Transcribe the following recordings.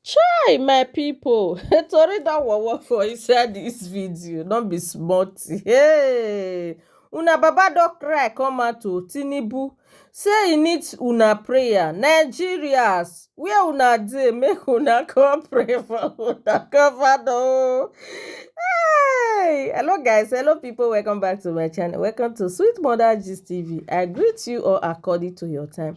Chai my people, tori don wowo for inside this video, no be small thing. Hey! Una baba don cry come out o, Tinubu say he need una prayer. Nigerians, where una dey make una come pray for una governor o. Hey! Hello guys, hello people, welcome back to my channel. Welcome to Sweet Mother Gist TV. I greet you all according to your time.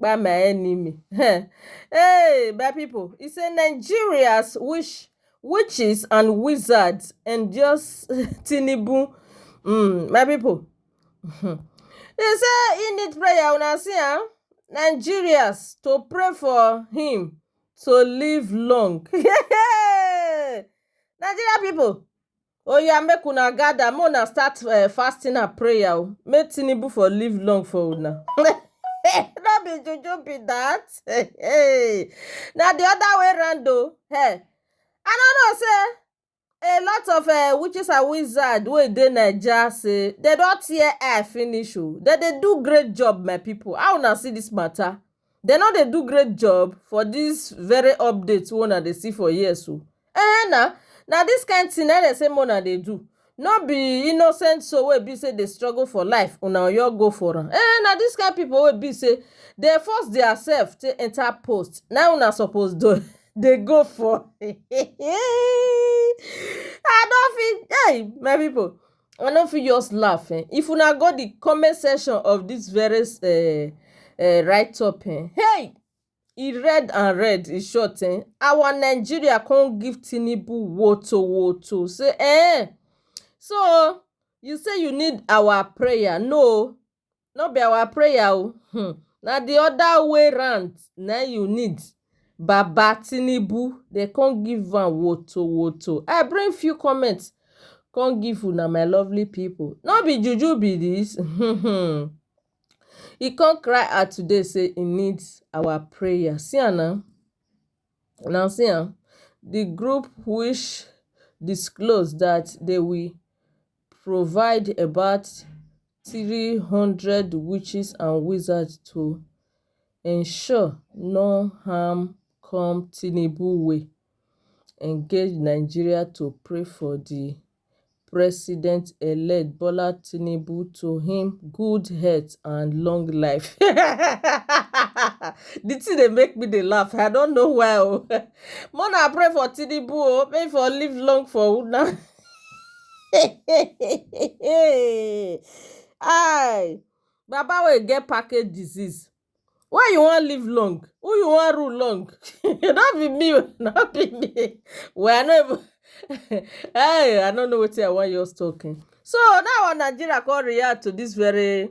kpa my enemy um hey my people e say nigerians wish witches and wizards endorse tinubu um my people um e say he need prayer una see am nigerians to pray for him to live long um nigeria people Oya make una gather make una start uh, fasting and prayer o make Tinubu for live long for una. no be juju be that. na the other way round o. Hey. I no know say a lot of uh, witches and wizards wey dey naija say dem don tear eye finish o oh. dem dey do great job my people how una see this matter. Dem no dey do great job for this very update wey una dey see for here so eh na na this kind thing na dem say make una dey do no be innocent soul wey be say dey struggle for life una go just go for am eh na this kind people wey be say dem force their self take enter post na him una suppose dey dey go for I no fit hey my people I no fit just laugh um if una go the comment section of this very um um write up um hey e red and red e short um our Nigeria come give Tinubu woto woto say um so you say you need our prayer no No be our prayer o um na the other way round na you need baba tinubu dem come give am woto woto i bring few comment come give una my lovely people no be juju be this um he come cry out today say he need our prayer see am na una see am the group which disclose that they will provide about three hundred witches and wizards to ensure no harm come tinubu wey engage nigeria to pray for di president-elect bola tinubu to im good health and long life. di tin dey make me dey laugh i no know why o more na pray for tinubu o make e for live long for una. Hey! Hi! Baba wey get package disease, why you wan live long? Who you wan rule long? No be me o, no be me. Well, I no even hey! I no know wetin I wan just talk. So, na how Nigeria come react to dis very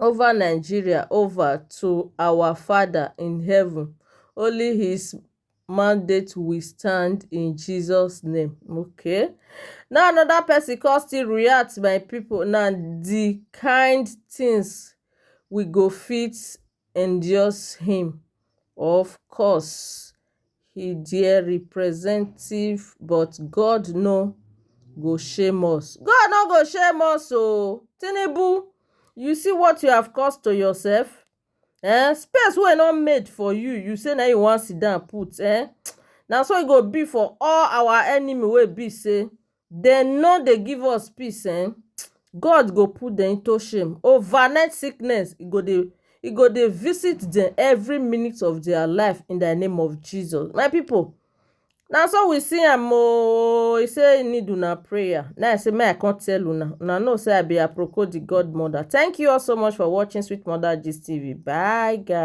over Nigeria over to our Father in heaven only his mandate will stand in Jesus name okay now another person come still react my people now the kind things we go fit endorse him of course he dere representative but God no go shame us God no go shame us oo Tinubu you see what you have caused to yourself eh space wey no made for you you say na im you wan sit down put eh na so e go be for all our enemy wey be say Dem no dey give us peace ehn God go put dem into shame overnight sickness e go dey e go dey visit dem every minute of their life in the name of Jesus my people na so we see am oo e say e need una prayer na I say make I come tell una una know say I be aproko the godmother thank you all so much for watching sweet mother gist tv bye guys.